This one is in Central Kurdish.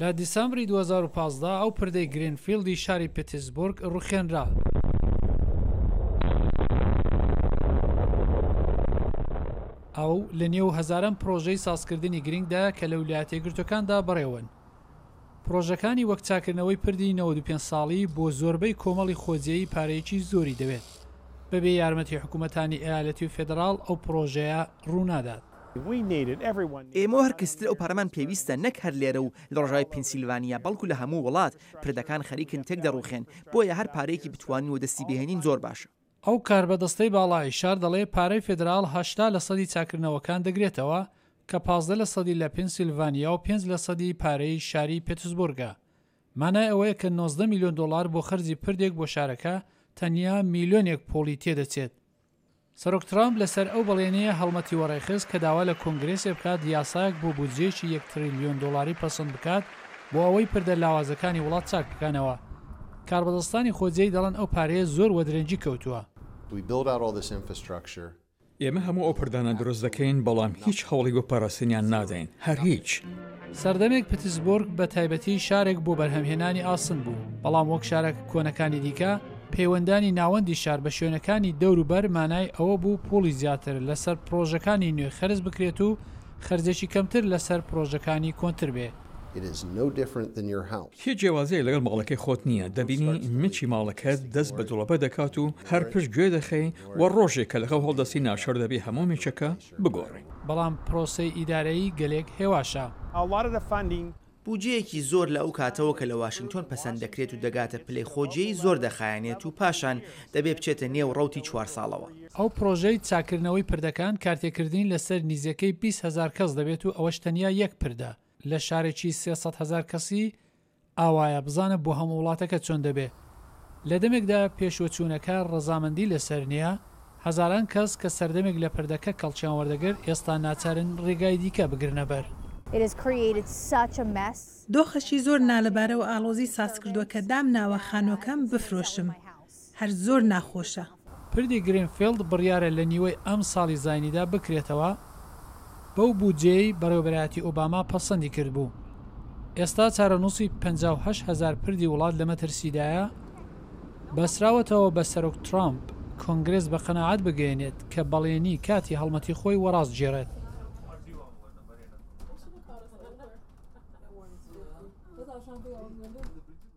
لە دیسامبری دوو هەزار و پازدە ئەو پردەی گرینفیلدی شاری پتیسبورگ روخێنرا. ئەو لە نێو هەزاران پرۆژەی سازکردنی گرنگدا کە لە ولایەتە یەکگرتووەکاندا بەڕێوەن. پرۆژەکانی وەک چاکردنەوەی پردی نەوەد و پێنج ساڵی بۆ زۆربەی کۆمەڵی خۆجێی پارەیەکی زۆری دەوێت. بەبێ یارمەتی حکوومەتانی ئەیالەتی و فێدڕاڵ ئەو پرۆژەیە روونادات. ئێمەو هەر کەسی تر ئەو پارەمان پێویستە نەک هەر لێرە و لە ڕۆژاوای پینسیلڤانیا بەڵکو لە هەموو وڵات، پردەکان خەریکن تێک دەڕوخێن، بۆیە هەر پارەیەکی بتوانین وەدەستی بهێنین زۆر باشە. ئەو کاربەدەستەی باڵای شار دەڵێ پارەی فیدراڵ هەشتا لە سەدی چاکردنەوەکان دەگرێتەوە کە پازدە لە سەدی لە پینسیلڤانیا و پێنج لە سەدی پارەی شاری پێتسبورگە مانای ئەوەیە کە نۆزدە میلیۆن دۆڵار بۆ خەرجی پردێک بۆ شارەکە تەنیا میلیۆنێک پوڵی تێدەچێت سەرۆک ترامپ لەسەر ئەو بەڵێنەیە هەڵمەتی وەڕێخست کە داوا لە کۆنگرێسێ بکات یاسایەک بۆ بودجەیەکی یەک تریلیۆن دۆڵاری پەسند بکات بۆ ئەوەی پردە لاوازەکانی وڵات چاک بکەنەوە. کاربەدەستانی خۆجێی دەڵێن ئەو پارەیە زۆر وەدرەنگی کەوتووە. ئێمە هەموو ئەو پردانە دروست دەکەین، بەڵام هیچ هەوڵی بۆ پاراستنیان نادەین. هەر هیچ. سەردەمێک پتسبۆرگ بە تایبەتی شارێک بۆ بەرهەمهێنانی ئاسن بوو، بەڵام وەک شارە کۆنەکانی دیکە، پەیوەندانی ناوەندی شار بە شوێنەکانی دەوروبەر مانای ئەوە بوو پووڵی زیاتر لەسەر پڕۆژەکانی نوێ خەرج بکرێت و خەرجێکی کەمتر لەسەر پڕۆژەکانی کۆنتر بێ. هیچ جیاوازییەک لەگەڵ ماڵەکەی خۆت نییە، دەبینی مچی ماڵەکەت دەست بە جڵەبە دەکات و هەر پشت گوێ دەخەی و ڕۆژێک کە لەخەو هەڵدەستی ناشر دەبی هەموو مچەکە بگۆڕین، بەڵام پرۆسەی ئیدارەیی گەلێک هێواشە. بوجەیەکی زۆر لە ئەو کاتەوە کە لە واشینگتۆن پەسەند دەکرێت و دەگاتە پلەی خۆ جێی زۆر دەخایەنێت و پاشان دەبێ بچێتە نێو ڕەوتی چوار ساڵەوە. ئەو پرۆژەی چاککردنەوەی پردەکان کارتێکردنی لەسەر نیزیەکەی بیست هەزار کەس دەبێت و ئەوەش تەنیا یەک پردە لە شارێکی سێ سەد هەزار کەسی، ئاوایە بزانە بۆ هەموو وڵاتەکە چۆن دەبێ. لە دەمێکدا پێشوەچوونەکە ڕەزامەندی لەسەر نییە، هەزاران کەس کە سەردەمێک لە پردەکە کەڵکیان وەردەگرت ئێستا ناچارن ڕێگای دیکە بگرنەبەر. دۆخەکی زۆر نالەبارە و ئاڵۆزی سازکردووە کە دامناوە خانووەکەم بفرۆشم. هەر زۆر ناخۆشە. پردی گرینفیڵد بڕیارە لە نیوەی ئەمساڵی زاینیدا بکرێتەوە، بەو بودجەیەی بەڕێوەبەرایەتی ئۆباما پەسەندی کردبوو. ئێستا چارەنووسی پەنجا و هەشت هەزار پردی وڵات لە مەترسیدایە. بەستراوەتەوە بە سەرۆک ترامپ کۆنگرێس بە قەناعەت بگەیەنێت کە بەڵێنی کاتی هەڵمەتی خۆی وەڕاستگێڕێت.